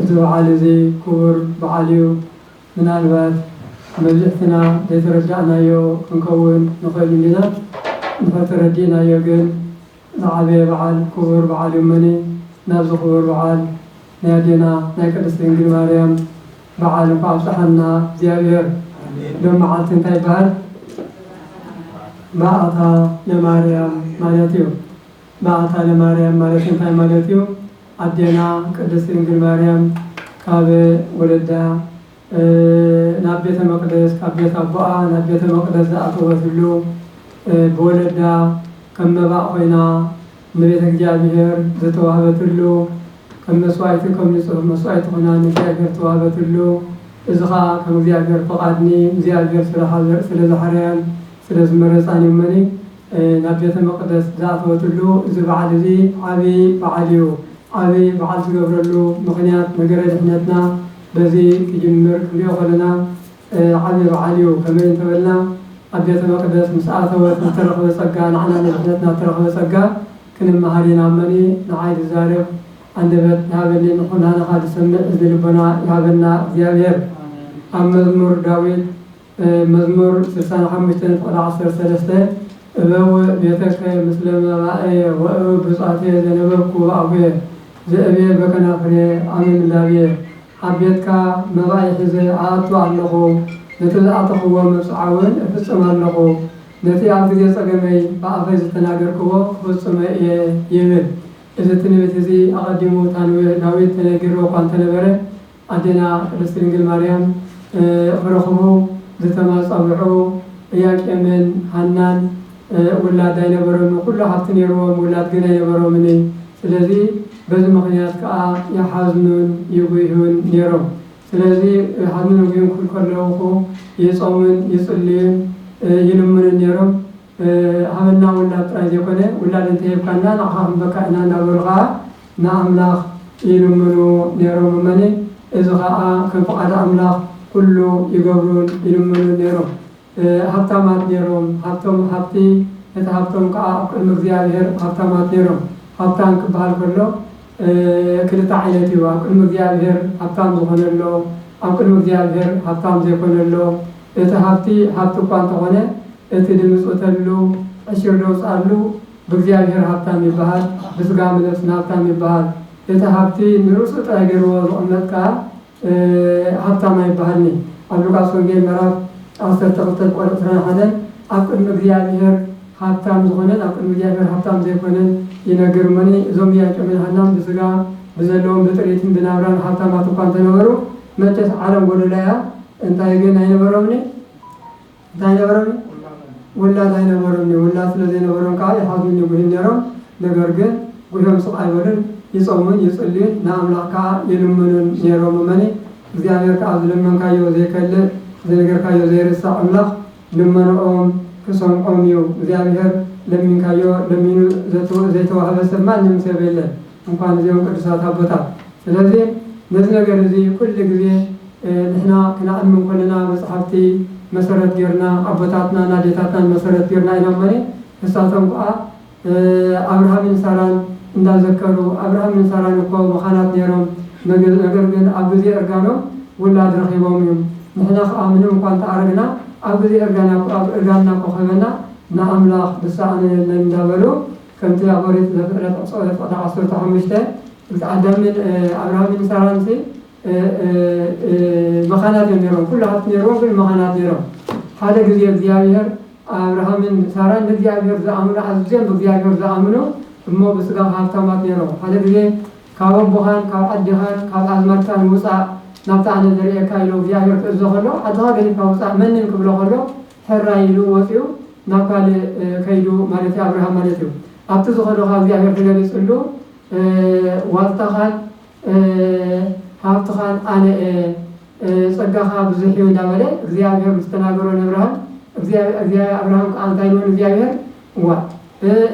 እዚ በዓል እዚ ክቡር በዓል እዩ። ምናልባት መብዝሕትና ዘይተረዳእናዮ ክንከውን ንኽእል እንዲና፣ እንተተረዲእናዮ ግን ዝዓበየ በዓል ክቡር በዓል እዩ እመኒ ናብዚ ክቡር በዓል ናይ ኣዴና ናይ ቅድስት ድንግል ማርያም በዓል እንኳዕ ኣብፀሓና እግዚኣብሔር። ሎም መዓልቲ እንታይ ይበሃል? በዓታ ለማርያም ማለት እዩ። በዓታ ለማርያም ማለት እንታይ ማለት እዩ? ኣዴና ቅድስት ድንግል ማርያም ካብ ወለዳ ናብ ቤተ መቅደስ ካብ ቤት ኣቦኣ ናብ ቤተ መቅደስ ዝኣተወትሉ ብወለዳ ከም መባእ ኮይና ንቤተ እግዚኣብሔር ዝተዋህበትሉ ከም መስዋዕቲ ከም ንጹህ መስዋዕቲ ኮይና ንእግዚኣብሔር ዝተዋህበትሉ እዚ ከኣ ከም እግዚኣብሔር ፈቃድ ንእግዚኣብሔር ስለ ዝሓረያን ስለ ዝመረጻን እዩመኒ ናብ ቤተ መቅደስ ዝኣተወትሉ እዚ በዓል እዚ ዓቢ በዓል እዩ። ዓቢ በዓል ዝገብረሉ ምኽንያት ነገረ ድሕነትና በዚ ክጅምር ክንሪኦ ከለና ዓቢ በዓል እዩ። ከመይ እንተበልና ኣብ ቤተ መቅደስ ምስ ኣተወት ዝተረኽበ ጸጋ ንዓና ንድሕነትና እተረኽበ ጸጋ ክንመሃር ኢና እመኒ ንዓይ ዝዛረብ ኣንደበት ይሃበኒ ንኩናነኻ ዝሰምዕ እዝኒ ልቦና ይሃበና እግዚኣብሔር። ኣብ መዝሙር ዳዊት። መዝሙር ስሳን ሓሙሽተን ፍቕዲ ዓሰርተ ሰለስተ እበወ ቤተከ ምስለ መባእየ ወእብ ብፁዓትየ ዘነበብኩ በኣኩየ ዘእብየ በከናፍርየ ኣመ ምላብየ ኣብ ቤትካ መባእይ ሒዘ እኣቱ ኣሎኹ ነቲ ዝኣተኽዎ መብጽዓውን እፍጽም ኣሎኹ ነቲ ኣብ ግዜ ጸገመይ ብኣፈይ ዝተናገርክዎ ክፍጽሞ እየ ይብል እዚ ትንቢት እዚ ኣቐዲሙ ታንብህ ዳዊት ተነጊርዎ እኳ እንተነበረ ኣዴና ቅድስት ድንግል ማርያም ኽረኽቡ ዝተማጸንዑ እያቄምን ሃናን ውላድ ኣይነበሮምን ኩሉ ሃብቲ ነይርዎም ውላድ ግን ኣይነበሮምን እይ ስለዚ በዚ ምኽንያት ከኣ ይሓዝኑን ይጉህዩን ነይሮም ስለዚ ይሓዝኑን ይጉህዩን ክብሉ ከለውኹ ይጾሙን ይጽልዩን ይልምኑን ነይሮም ኣመና ውላድ ጥራይ ዘይኮነ ውላድ እንተ ሂብካና ንዓኻ ክንበካ ኢና እናበሉ ኸኣ ንኣምላኽ ይልምኑ ነይሮም። እመኒ እዚ ኸኣ ከም ፍቓድ ኣምላኽ ኩሉ ይገብሩን ይልምኑን ነይሮም። ሃብታማት ነይሮም፣ ሃብቶም ሃብቲ እቲ ሃብቶም ከኣ ኣብ ቅድሚ እግዚኣብሄር ሃብታማት ነይሮም። ሃብታም ክበሃል ከሎ ክልተ ዓይነት እዩ፣ ኣብ ቅድሚ እግዚኣብሄር ሃብታም ዝኾነ ኣሎ፣ ኣብ ቅድሚ እግዚኣብሄር ሃብታም ዘይኮነ ኣሎ። እቲ ሃብቲ ሃብቲ እኳ እንተ ኾነ፣ እቲ ድምጽውተሉ ዕሽር ደውጽኣሉ ብእግዚኣብሔር ሃብታም ይበሃል ብስጋ ምለብስን ሃብታም ይበሃል እቲ ሃብቲ ንርእሱ ጥራይ ገርዎ ዝቅመጥ ከኣ ሃብታም ኣይበሃልን'ዩ ኣብ ሉቃስ ወንጌል ምዕራፍ ዓሰርተ ክልተ ብቆርብ ዕስራን ሓደን ኣብ ቅድሚ እግዚኣብሔር ሃብታም ዝኾነን ኣብ ቅድሚ እግዚኣብሔር ሃብታም ዘይኮነን ይነግር እሞኒ እዞም ኢያቄምን ሃናን ብስጋ ብዘለዎም ብጥሪትን ብናብራን ሃብታማት እኳ እንተነበሩ መቸስ ዓለም ጎዶሎ እያ እንታይ ግን ኣይነበሮምኒ ዛይነበረኒ ውላድ ኣይነበሩኒ ውላድ ስለ ዘይነበሮም ከኣ ይሓዙኒ ጉሂም ኔሮም ነገር ግን ጉሆም ስቅ ኣይበሉን ይጾሙን ይጽልዩን ንኣምላኽ ከኣ ይልምኑን ኔሮም እመኒ እግዚኣብሔር ከኣ ዝለመንካዮ ዘይከልእ ዝነገርካዮ ዘይርሳዕ ኣምላኽ ልመንኦም ክሰምዖም እዩ እግዚኣብሔር ለሚንካዮ ለሚኑ ዘይተዋህበ ሰብ ማንም ሰብ የለን እንኳን እዚኦም ቅዱሳት ኣቦታት ስለዚ ነዚ ነገር እዚ ኩሉ ግዜ ንሕና ክነዕልም ከለና መጽሓፍቲ መሰረት ገርና ኣቦታትናን ኣዴታትናን መሰረት ገርና ኢሎም እመኒ ንሳቶም ክኣ ኣብርሃምን ሳራን እንዳ ዘከሩ ኣብርሃምን ሳራን እኮ መኻናት ነሮም ነገር ግን ኣብ ግዜ እርጋኖም ውላድ ረኺቦም እዮም ንሕና ክኣ ምንም እኳ እንተ ኣረግና ኣብ ግዜ እርጋና እርጋንና እኮ ክህበና ንኣምላኽ ዝሳኣኖ የለን እንዳ በሉ ከምቲ ኣብ ኦሪት ዘፍጥረት ዕጽ ዕጽ ዓሰርተ ሓሙሽተ ምስ ኣዳምን ኣብርሃምን ሳራን ሲ መኻናት እዮም ነይሮም ኩሉ ሃብቲ ነይሮም ግን መኻናት ነይሮም ሓደ ግዜ እግዚኣብሔር ኣብርሃምን ሳራን ንእግዚኣብሔር ዝኣምኑ ኣዝዮም ብእግዚኣብሔር ዝኣምኑ እሞ ብስጋ ሃብታማት ነይሮም ሓደ ግዜ ካብ ኣቦኻን ካብ ዓድኻን ካብ ኣዝማድካን ውፃእ ናብቲ ኣነ ዘርእየካ ኢሎ እግዚኣብሔር ክእዞ ከሎ ዓድኻ ገዲፍካ ውፃእ መንን ክብሎ ከሎ ፈራይ ኢሉ ወጺኡ ናብ ካልእ ከይዱ ማለት ኣብርሃም ማለት እዩ ኣብቲ ዝኾዶ ካብ እግዚኣብሔር ትገለጽሉ ዋልታኻን ሃብትኻን ኣነ ጸጋኻ ብዙሕ እዩ እንዳበለ እግዚኣብሔር ምስ ተናገሮ ነብርሃም ኣብርሃም ከዓ እንታይ ኢልዎ ንእግዚኣብሔር እዋእ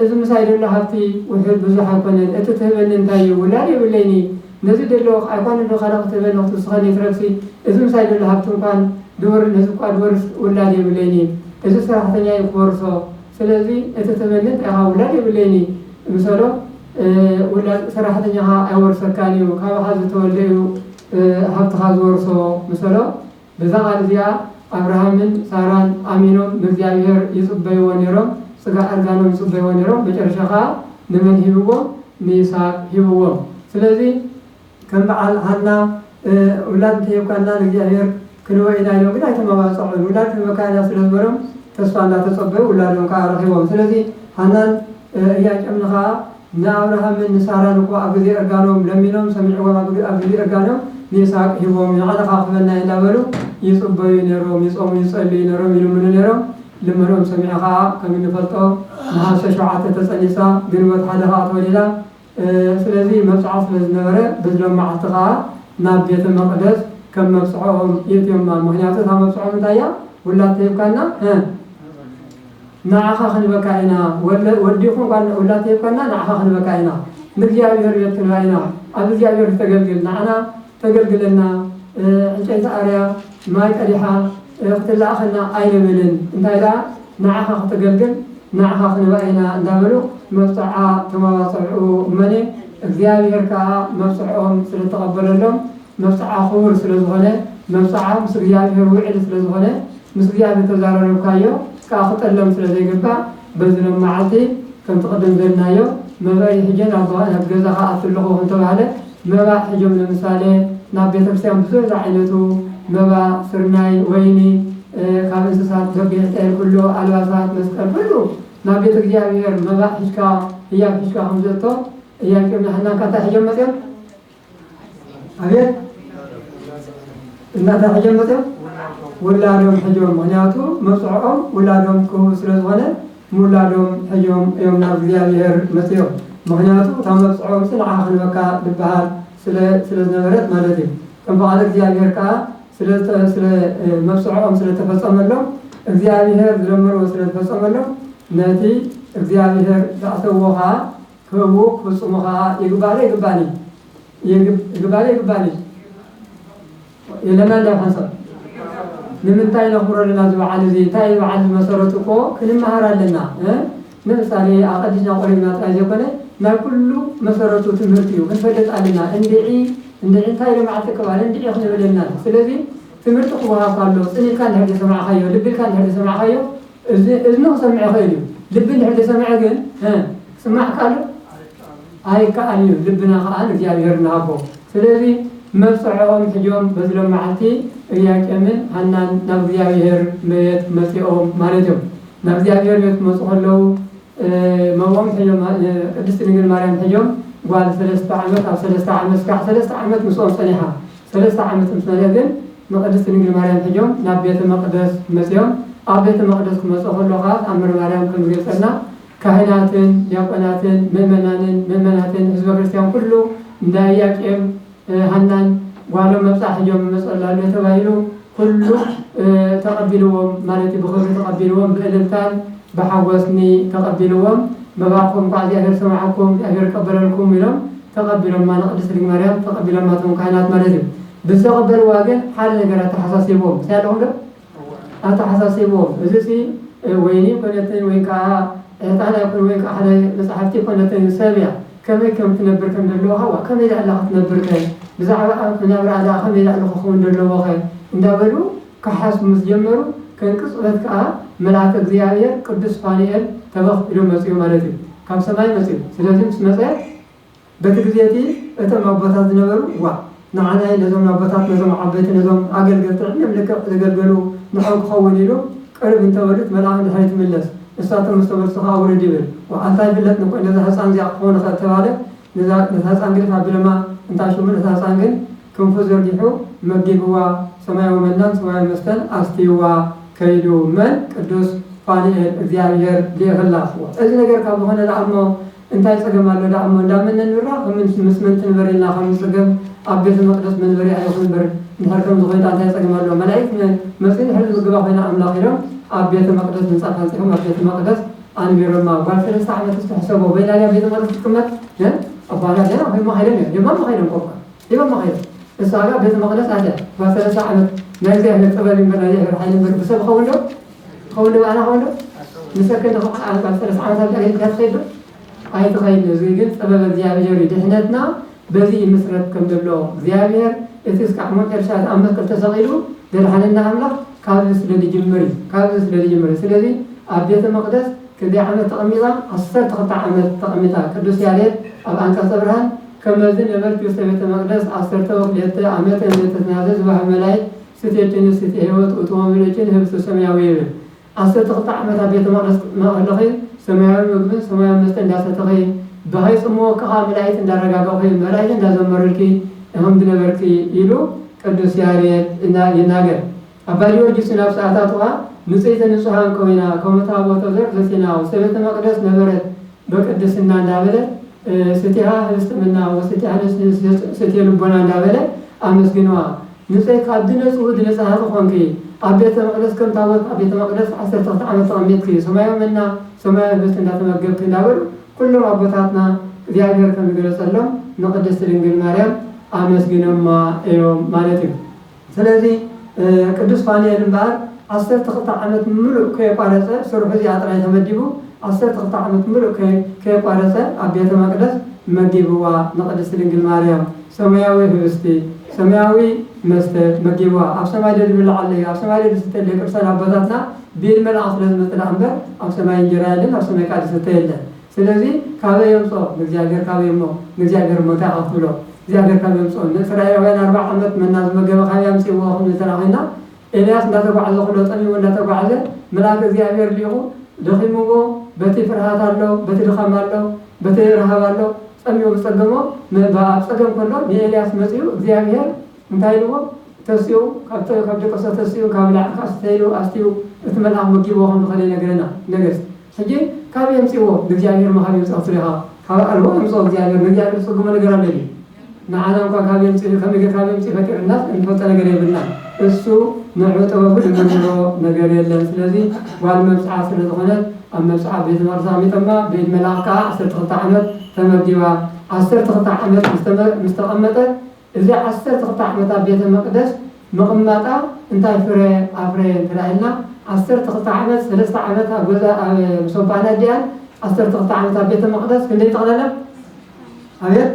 እዚ ምሳይ ደሎ ሃብቲ ውሑድ ብዙሕ ኣይኮነን እቲ ትህበኒ እንታይ እዩ ውላድ የብለይን እዪ ነዚ ደለኩ ኣይኮነን ዶ ካልእ ክትህበኒ ክትውስኸኒ ይትረፍሲ እዚ ምሳይ ደሎ ሃብቲ እንኳን ድወርድ ህዝቢ እኳ ድወርስ ውላድ የብለይን እዪ እዚ ሰራሕተኛ እዩ ክወርሶ ስለዚ እቲ ትህበኒ እንታይ ኢኻ ውላድ የብለይን እዪ ምሰሎ ውላድ ሰራሕተኛኻ ኣይወርሰካን እዩ ካባኻ ዝተወልደ እዩ ሃብትኻ ዝወርሶ ምሰሎ በዛ ቓል እዚኣ ኣብርሃምን ሳራን ኣሚኖም ንእግዚኣብሄር ይጽበይዎ ኔሮም ጽጋዕ እርጋኖም ይጽበይዎ ኔሮም መጨረሻ ከኣ ንመን ሂብዎም ንይስሃቅ ሂብዎም ስለዚ ከም በዓል ሃና ውላድ እንተሂብካና ንእግዚኣብሄር ክንህቦ ኢና ኢሎም ግን ኣይተማባጸዑን ውላድ ክንህበካ ኢና ስለ ዝበሎም ተስፋ እንዳተጸበዩ ውላዶም ከኣ ረኺቦም ስለዚ ሃናን እርያቄምን ከኣ ንኣብርሃምን ንሳራን እኮ ኣብ ግዜ እርጋኖም ለሚኖም ሰሚዕዎም ኣብ ግዜ እርጋኖም ንይስሃቅ ሂቦም ንዕልካ ክበና ኢና እንዳበሉ ይጽበዩ ኔሮም ይጾሙ ይጸልዩ ኔሮም ይልምኑ ኔሮም ልመንኦም ሰሚዑ ከኣ ከም እንፈልጦ ነሃሰ ሸውዓተ ተጸኒሳ ግንቦት ሓደ ከኣ ተወሊዳ ስለዚ መብጽዓ ስለ ዝነበረ ብዝሎም መዓልቲ ከኣ ናብ ቤተ መቅደስ ከም መብጽዕኦም የእትዮማ ምክንያቱ እታ መብጽዖም እንታይ እያ ውላድ ተሂብካና ንዓኻ ክንበካ ኢና ወዲ ይኹን ጓል ንውላድ ተይኮና ንዓኻ ክንበካ ኢና ንእግዚኣብሔር ቤት ክንባ ኢና ኣብ እግዚኣብሔር ዝተገልግል ንዓና ተገልግለና ዕንጨይቲ ኣርያ ማይ ቀዲሓ ክትላኣኸና ኣይንብልን እንታይ ደኣ ንዓኻ ክተገልግል ንዓኻ ክንባ ኢና እንዳበሉ መብጽዓ ተማባጸዑ እመኒ እግዚኣብሔር ከኣ መብጽዕኦም ስለተቐበለሎም መብጽዓ ክቡር ስለ ዝኾነ መብጽዓ ምስ እግዚኣብሔር ውዕል ስለ ዝኾነ ምስ እግዚኣብሔር ተዛራረብካዮ ክኣ ክጠለም ስለ ዘይግባእ በዚ ሎም መዓልቲ ከምቲ ቅድም ዘልናዮ መባኢ ሕጀ ናብ ገዛ ክኣቱ ኣለኹ እንተባህለ መባእ ሕጀም ለምሳሌ ናብ ቤተክርስቲያን ብዙሕ ዝዓይነቱ መባ ስርናይ ወይኒ ካብ እንስሳት በጊዕ ጤል ኩሉ ኣልባሳት መስቀል ኩሉ ናብ ቤተ እግዚኣብሔር መባእ ሕጅካ ህያብ ሕጅካ ከምዘቶ እያቄም ናህናን ካንታይ ሕጀም መጽኦም ኣቤት እናታ ሕጆም መፅኦም ውላዶም ሕጆም ምክንያቱ መብፅዖኦም ውላዶም ክህቡ ስለ ዝኾነ ምውላዶም ሕጆም እዮም ናብ እግዚኣብሔር መፅኦም ምክንያቱ እታ መብፅዖም ፅንዓ ክንበካ ዝበሃል ስለ ዝነበረት ማለት እዩ ከም በዓለ እግዚኣብሔር ከዓ ስለ መብፅዖኦም ስለተፈፀመሎም እግዚኣብሔር ዝለመንዎ ስለዝፈፀመሎም ነቲ እግዚኣብሔር ዝኣተዎ ከዓ ህቡ ፍጹሙ ከኣ ይግባኒ ይግባኒ ይግባኒ ይግባኒ የለና እንዳ ሓንሳብ ንምንታይ ነኽብሮ ኣለና እዚ በዓል እዚ እንታይ እዩ በዓል መሰረቱ እኮ ክንመሃር ኣለና ንምሳሌ ኣቐዲና ቆሪብና ጥራይ ዘይኮነ ናይ ኩሉ መሰረቱ ትምህርቲ እዩ ክንፈልጥ ኣለና እንድዒ እንድዒ እንታይ ኢሎም በዓል ተቀባለ እንድዒ ክንብል ኣለና ስለዚ ትምህርቲ ክወሃብ ካሎ ጽን ኢልካ እንድሕር ሰማዕኻዮ ልቢ ኢልካ እንድሕር ሰማዕኻዮ እዚ እዝኒ ክሰምዕ ይኽእል እዩ ልቢ እንድሕር ተሰምዐ ግን እ ጽማዕ ካልእ ኣይከኣልን እዩ ልብና ከኣ ንእግዚኣብሔር ንሃቦ ስለዚ መብጽዐኦም ሕጆም በዚ ሎማዓልቲ እርያቄምን ሃናን ናብ እግዚኣብሔር መቤት መጺኦም ማለት እዮም ናብ እግዚኣብሔር ቤት ክመጹ ከለዉ መብኦም ሕጆም ቅድስት ድንግል ማርያም ሕጆም ጓል ሰለስተ ዓመት ኣብ ሰለስተ ዓመት ስጋዕ ሰለስተ ዓመት ምስኦም ጸኒሓ ሰለስተ ዓመት ምስ መለእ ግን ንቅድስት ድንግል ማርያም ሒዞም ናብ ቤተ መቅደስ መጺኦም ኣብ ቤተ መቅደስ ክመጾ ከሎ ከኣ ተኣምር ማርያም ከም ዝገልጸልና ካህናትን ዲያቆናትን ምእመናንን ምእመናትን ህዝበ ክርስትያን ኩሉ እንዳ ኢያቄም ሃናን ጓሎም መብጽዓ ሒዞም ይመጹ ኣላሉ ተባሂሉ ኩሉ ተቐቢልዎም ማለት እዩ ብኽብሪ ተቐቢልዎም ብእልልታን ብሓጎስኒ ተቐቢልዎም መባእኩም እንኳዕ እግዚኣብሔር ሰማዓኩም እግዚኣብሔር ይቀበለልኩም ኢሎም ተቐቢሎማ ንቅድስት ድንግል ማርያም ተቐቢሎማ እቶም ካህናት ማለት እዩ ብዝተቐበልዋ ግን ሓደ ነገር ኣተሓሳሲብዎም እንታይ ኣለኹም ዶ ኣተሓሳሲብዎም እዚ ሲ ወይኒ ኮነተይ ወይ ከዓ ዕጣን ኣይኮነ ወይ ከዓ ሓደ መፅሓፍቲ ኮነተይ ሰብ እያ ከመይ ከም ትነብር ከም ደለዎኻ ዋእ ከመይ ዳእላ ክትነብርከ ብዛዕባ ኣንክ ናብራ ዳኣ ከመይ ዳእሉ ክኽውን ደለዎኸ እንዳበሉ ክሓስቡ ምስ ጀመሩ ከም ቅጽበት ከኣ መልኣከ እግዚኣብሔር ቅዱስ ፋኑኤል ተበኽ ኢሉ መጽኡ ማለት እዩ ካብ ሰማይ መጽኡ ስለዚ ምስ መጸ በቲ ግዜ እቲ እቶም ኣቦታት ዝነበሩ ዋእ ንዓናይ ነዞም ኣቦታት ነዞም ዓበይቲ ነዞም ኣገልገልቲ ዕድመም ልክዕ ዘገልገሉ ንዕኦም ክኸውን ኢሉ ቅርብ እንተበሉት መልኣኽ ንድሕሪት ይምለስ ንሳቶም ምስ ተመልሱ ከኣ ውርድ ይብል ወዓልቲ ኣይፍለጥን እኮ ነዛ ህጻን እዚኣ ክኸውን ይኽእል ተባለ ነዛ ነታ ህጻን ግድፍ ኣቢሎማ እንታይ ሽሙ ነታ ህጻን ግን ክንፉ ዘርጊሑ መጊብዋ ሰማያዊ መናን ሰማያዊ መስተን ኣስትይዋ ከይዱ መን ቅዱስ ፋኑኤል እግዚኣብሔር ልኢኽላ እዚ ነገር ካብ ዝኾነ ደኣ እሞ እንታይ ጸገም ኣሎ ደኣ እሞ እንዳ መን ነንብራ ከም ምንስ ምስ መን ትንበር ኢልና ከም ንጽገም ኣብ ቤተ መቅደስ መንበሪ ኣይኹን እምበር እንድሕር ከምዚ ኮይንካ እንታይ ጸገም ኣለዎ መላኢክት መ መጽኡ እንድሕር ዝምግባ ኮይና ኣምላኽ ኢሎም ኣብ ቤተ መቅደስ ምንጻፍ ኣንጺፎም ኣብ ቤተ መቅደስ ኣንቢሮማ ጓል ሰለስተ ዓመትስ ትሕሰቦ በይና ድያ ኣብ ቤተ መቅደስ ክትቅመጥ ን ኣባታ ገና ሂቦማ ከይዶም እዮም ሂቦማ ከይዶም ኮኳ ሂቦማ ከይዶም ንሳ ግን ኣብ ቤተ መቅደስ ኣትያ ጓል ሰለስተ ዓመት ናይ እግዚኣብሔር ጥበብ እዩ እምበር ናይ እግዚኣብሔር ሓይሊ እምበር ብሰብ ይኸውን ዶ ትኸውን ባዕላ ኾን ዶ ንሰከ ንኽፋል ዓመት ኣብ ሰለስተ ዓመት ኣብዚኣ ጌርካ ትኸይድ ዶ ኣይትኸይድ እዚ ግን ጥበብ እግዚኣብሔር እዩ ድሕነትና በዚ ይምስረት ከም ዘሎ እግዚኣብሔር እቲ እስካዕ ሞት ኤርትራ ኣብ መስቀል ተሰቒሉ ዘድሓነና ኣምላኽ ካብዚ ስለ ዝጅምር እዩ ካብዚ ስለ ዝጅምር እዩ ስለዚ ኣብ ቤተ መቅደስ ክንደይ ዓመት ተቐሚጣ ዓሰርተ ክልተ ዓመት ተቐሚጣ ቅዱስ ያሬድ ኣብ ኣንቀጸ ብርሃን ከመዚ ነበርኪ ውስተ ቤተ መቅደስ ዓሰርተ ወክልኤተ ዓመተ ዘተትናዘ ዝበሃ መላእክት ስቴ ጭኒ ስቴ ህይወት እቱ ወንጌል ጭኒ ህብስት ሰማያዊ ይብል ዓሰርተ ክልተ ዓመት ኣብ ቤተ መቅደስ ማእለኺ ሰማያዊ ምግብን ሰማያዊ መስተ እንዳሰተኺ ብሃይ ጽምወኪ ከኣ መላኢት እንዳረጋገኺ መላኢት እንዳዘመሩልኪ ኢኽም ዝነበርኪ ኢሉ ቅዱስ ያሬድ ይናገር ኣባ ጊዮርጊስ ውን ኣብ ሰኣታቱ ከኣ ንጽህተ ንጹሃን ኮይና ከሙ ታቦተ ዘር ዘሲና ውስተ ቤተ መቅደስ ነበረት በቅድስና እንዳበለ ስቴሃ ህብስት ምና ወስቴሃ ነፍስ ስቴ ልቦና እንዳበለ ኣመስግንዋ ንጽይ ካብ ድነጽ ውእድ ንጽሃ ምኾንኪ ኣብ ቤተ መቅደስ ከም ታቦት ኣብ ቤተ መቅደስ ዓሰርተ ክልተ ዓመት ተቀሚጥኪ ሰማያዊ መና ሰማያዊ ህብስት እንዳተመገብኪ እንዳበሉ ኩሎም ኣቦታትና እግዚኣብሔር ከም ዝገለጸሎም ንቅድስት ድንግል ማርያም ኣመስጊኖማ እዮም ማለት እዩ ስለዚ ቅዱስ ፋኑኤል እምበኣር ዓሰርተ ክልተ ዓመት ምሉእ ከየቋረጸ ስርሑ እዚኣ ጥራይ ተመዲቡ ዓሰርተ ክልተ ዓመት ምሉእ ከየቋረጸ ኣብ ቤተ መቅደስ መጊብዋ ንቅድስት ድንግል ማርያም ሰማያዊ ህብስቲ፣ ሰማያዊ መስተ፣ መጊብዋ፣ ኣብ ሰማይ ዶ ዝብላዕ ኣሎ እዩ፣ ኣብ ሰማይ ዶ ዝስተ ኣሎ እዩ፣ ቅዱሳን ኣቦታትና ብኢድ መልኣኽ ስለ ዝመጸ ደኣ እምበር ኣብ ሰማይ እንጀራ የለን፣ ኣብ ሰማይ ከኣ ዝስተ የለን። ስለዚ ካበይ የምጽኦ ንእግዚኣብሔር ካበይ እሞ ንእግዚኣብሔር እሞ እንታይ ኢኻ ክትብሎ እግዚኣብሔር ካበይ የምጽኦ ንእስራኤላውያን ኣርብዓ ዓመት መና ዝመገበ ካበይ ኣምጺእዎ ክንብል ተራኺብና ኤልያስ እንዳተጓዕዘ ኩሎ ጠሚሙ እንዳተጓዕዘ መልኣከ እግዚኣብሔር ሊኢኹ ደኺምዎ በቲ ፍርሃት ኣሎ በቲ ድኻም ኣሎ በቲ ረሃብ ኣሎ ጸሚኡ ብጸገሞ ምእባ ኣብ ጸገም ከሎ ንኤልያስ መጺኡ እግዚኣብሔር እንታይ ኢልዎ ተሲኡ ካብ ደቀሰ ተሲኡ ካብ ላዕካ ኣስተይሉ ኣስትዩ እቲ መልኣኽ መጊብዎ ከም ዝኸደ ይነግረና ነገስት ሕጂ ካበይ የምጽእዎ ንእግዚኣብሄር ምሃብ የምጽኦ ትብል ኢኻ ካብ ኣልቦ የምጽኦ እግዚኣብሄር ንእግዚኣብሄር ዝጽግሞ ነገር ኣሎ ድዩ ንዓና እንኳን ካብ የምጽእ ከመይ ጌርካ ካብ የምጽእ ፈጢሩናስ እንፈልጦ ነገር የብልናን እሱ ንዑ ጥበቡ ዝምርምሮ ነገር የለን ስለዚ ጓል መብጽዓ ስለ ዝኾነት ኣብ መብጽዓ ቤተ መቅደስ ኣቅሚጦማ ብኢድ መልኣኽ ከኣ ዓሰርተ ክልተ ዓመት ተመዲባ ዓሰርተ ክልተ ዓመት ምስ ተቀመጠት እዚ ዓሰርተ ክልተ ዓመት ኣብ ቤተ መቅደስ ምቅማጣ እንታይ ፍረ ኣፍረየ እንተ ኢልና ዓሰርተ ክልተ ዓመት ሰለስተ ዓመት ኣብ ገዛ ኣብ ምስ ኣባን ኣዲኣን ዓሰርተ ክልተ ዓመት ኣብ ቤተ መቅደስ ክንደይ ጠቅለላ ኣቤት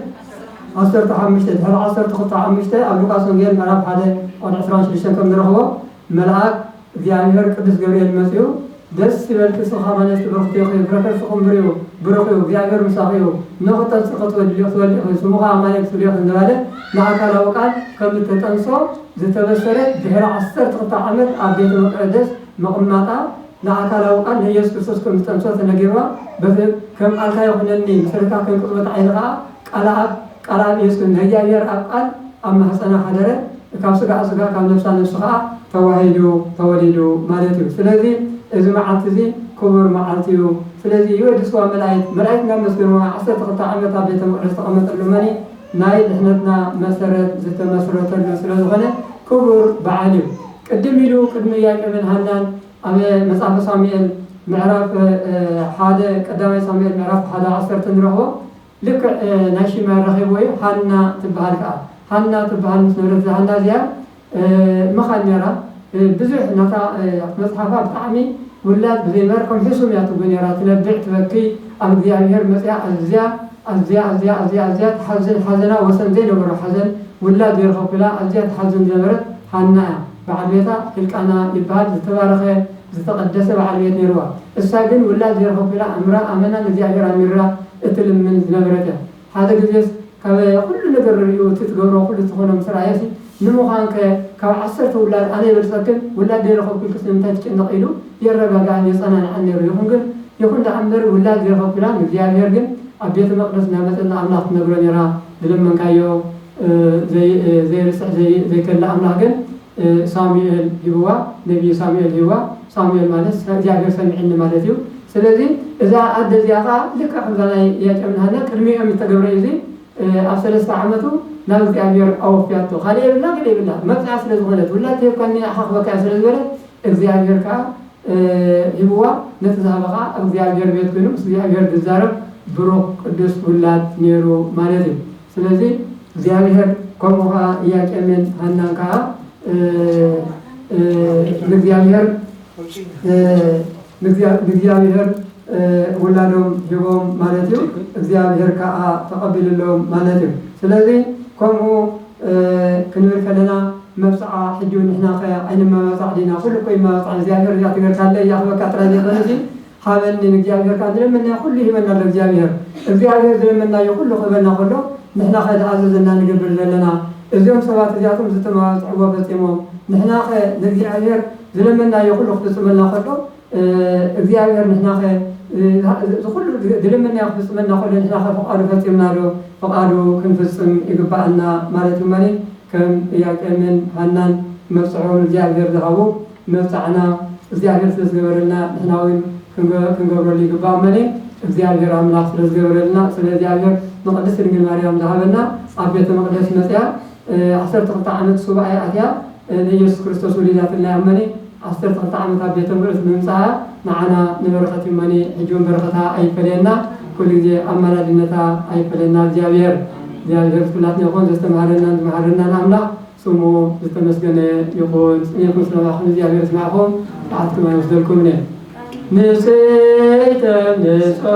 ዓሰርተ ሓሙሽተ ድሕሪ ዓሰርተ ክልተ ሓሙሽተ ኣብ ሉቃስ ወንጌል ምዕራፍ ሓደ ቁጥሪ ዕስራን ሽዱሽተን ከም ንረኽቦ መልኣክ እግዚኣብሔር ቅዱስ ገብርኤል መጺኡ ደስ ይበልኪ ሱኻ ማነጽ ብርኽቲ ኢኺ ፍረ ከርስኺ እምብር እዩ ብሩኽ እዩ እግዚኣብሔር ምሳኺ እዩ እነሆ ክተንጽ ክትወልዲ ክትወልዲ ኢኺ ስሙ ኸኣ ኣማኑኤል ትብልዮ ኢኺ እንዳበለ ንኣካላዊ ቃል ከም እተጠንሶ ዝተበሰረ ድሕሪ ዓሰርተ ክልተ ዓመት ኣብ ቤተ መቅደስ ምቕማጣ ንኣካላዊ ቃል ንኢየሱስ ክርስቶስ ከም ዝጠንሶ ተነጊርዋ በቲ ከም ቃልካ ይኹነኒ ምሰለታ ከም ቅጽበት ዓይኒ ኸኣ ቃልኣብ ቃልኣብ የስክን ነህያየር ኣብ ቃል ኣብ ማህጸና ሓደረ እካብ ስጋኣ ስጋ እካብ ነፍሳ ነፍሲ ከኣ ተዋሂዱ ተወሊዱ ማለት እዩ ስለዚ እዚ መዓልቲ እዚ ኩቡር መዓልቲ እዩ ስለዚ ይወድስዋ መላኢት መላኢት እናመስገንዋ ዓሰርተ ክልተ ዓመት ኣብ ቤተ መቅደስ ዝተቀመጠሉ መኒ ናይ ድሕነትና መሰረት ዝተመስረተሉ ስለ ዝኮነ ኩቡር በዓል እዩ ቅድም ኢሉ ቅድሚ ያቄብን ሃናን ኣብ መጽሐፈ ሳሙኤል ምዕራፍ ሓደ ቀዳማይ ሳሙኤል ምዕራፍ ሓደ ዓሰርተ ንረክቦ ልክዕ ናይ ሽማ ኣራኺብዎ እዩ ሃና ትብሃል ከኣ ሃና ትብሃል ምስ ነበረት እዛ ሃና እዚኣ መኻን ኔራ ብዙሕ ናታ ኣብቲ መጽሓፋ ብጣዕሚ ውላድ ብዘይ መር ከም ሕሱም እያ ትጉህ ኔራ ትነብዕ ትበኪ ኣብ እግዚኣብሄር መጺኣ ኣዝያ ኣዝያ ኣዝያ ኣዝያ ኣዝያ ትሓዝን ሓዘና ወሰን ዘይነበሮ ሓዘን ውላድ ዘይረኸብኩ ኢላ ኣዝያ ትሓዝን ዝነበረት ሃና እያ በዓል ቤታ ሂልቃና ይብሃል ዝተባረኸ ዝተቐደሰ በዓል ቤት ነይርዋ። እሳ ግን ውላድ ዘይረኸብኩ ኢላ ኣምራ ኣመና ንእግዚኣብሔር ኣሚርራ እትልምን ዝነበረት እያ። ሓደ ግዜስ ካበ ኩሉ ነገር ርርኡ እቲ ትገብሮ ኩሉ እትኾኖ ምስ ረኣየሲ ንምዃንከ ካብ ዓሰርተ ውላድ ኣነ ይበልጸክን ውላድ ደይረኸብኩ ኢልክስ ንምንታይ ትጭነቒ ኢሉ የረጋግኣን የጸናንዓን ነይሩ። ይኹን ግን ይኹን ደኣ እምበር ውላድ ዘይረኸብኩ ኢላ ንእግዚኣብሔር ግን ኣብ ቤተ መቕደስ እናመጸት ንኣምላኽ ትነግሮ ነይራ ዝለመንካዮ ዘይርስዕ ዘይከልእ ኣምላኽ ግን ሳሙኤል ሂብዋ ነብዪ ሳሙኤል ሂብዋ ሳሙኤል ማለት ናይ እግዚኣብሄር ሰሚዕኒ ማለት እዩ ስለዚ እዛ ኣደ እዚኣ ከኣ ልክዕ ከምዛ ናይ ኢያቄምን ሃናን ቅድሚኦም እዩ ዝተገብረ እዩ እዚ ኣብ ሰለስተ ዓመቱ ናብ እግዚኣብሄር ኣወፍያቶ ካልእ የብላ ግደ የብላ መብጽዓ ስለ ዝኾነት ውላድ ተሂብካኒ ኣሓኽበካ እያ ስለ ዝበለት እግዚኣብሄር ከኣ ሂብዋ ነቲ ዝሃበ ከኣ ኣብ እግዚኣብሄር ቤት ኮይኑ ምስ እግዚኣብሄር ዝዛረብ ብሩኽ ቅዱስ ውላድ ነይሩ ማለት እዩ ስለዚ እግዚኣብሔር ከምኡ ከኣ እያቄምን ሃናን ከኣ ንእግዚኣብሔር ንእግዚኣብሔር ውላዶም ሂቦም ማለት እዩ እግዚኣብሔር ከዓ ተቐቢልሎም ማለት እዩ ስለዚ ከምኡ ክንብል ከለና መብፅዓ ሕጂ ንሕና ከ ኣይንመባፃዕ ዲና ኩሉ እኮ ይመባፃዕ እግዚኣብሔር እዚኣ ትገርካለ እያ ክበካ ጥራይ ዘይኮነ እዚ ሃበኒ ንእግዚኣብሔር ከኣ ዝለመንናዮ ኩሉ ይህበና ኣሎ እግዚኣብሔር። እግዚኣብሔር ዝለመንናዮ ኩሉ ክህበና ከሎ ንሕናኸ ዝኣዘዘና ንገብር ዘለና? እዚኦም ሰባት እዚኣቶም ዝተመባጽዕዎ ፈጺሞም ንሕናኸ ንእግዚኣብሔር ዝለመንናዮ ኩሉ ክፍጽመልና ከሎ እግዚኣብሔር ንሕናኸ ዝኹሉ ዝለመንናዮ ክፍጽመልና ከሎ ንሕናኸ ፍቓዱ ፈጺምና ዶ? ፍቓዱ ክንፍጽም ይግበኣና ማለት ድማ ከም እያቄምን ሃናን መብጽዕኦም ንእግዚኣብሔር ዝሃቡ መብጽዓና እግዚኣብሔር ስለ ዝገበረልና ንሕና ውን ክንገብረሉ ይግባእ እመ እግዚኣብሔር ኣምላክ ስለ ዝገበረልና ስለ እግዚኣብሔር ንቅድስት ድንግል ማርያም ዝሃበና ኣብ ቤተ መቅደስ መጽያ ዓሰርተ ክልተ ዓመት ሱባኤ ኣትያ ንኢየሱስ ክርስቶስ ወሊዳትና እያ እመ ዓሰርተ ክልተ ዓመት ኣብ ቤተ መቅደስ ብምምጽኣ ንዓና ንበረከት እመ ሕጂ ውን በረከታ ኣይፈለየና ኩሉ ግዜ ኣማላድነታ ኣይፈለየና እግዚኣብሔር እግዚኣብሔር ምስ ኩላትና ይኹን ዘስተምሃረናን ዝመሃረናን ኣምላክ ስሙ ዝተመስገነ ይኹን ጸኒዕኩም ስለማዕኩም እግዚኣብሔር የስማዕኩም ጸዓትኩም ኣይወስደልኩምነ ንጽህተ ንጹሓ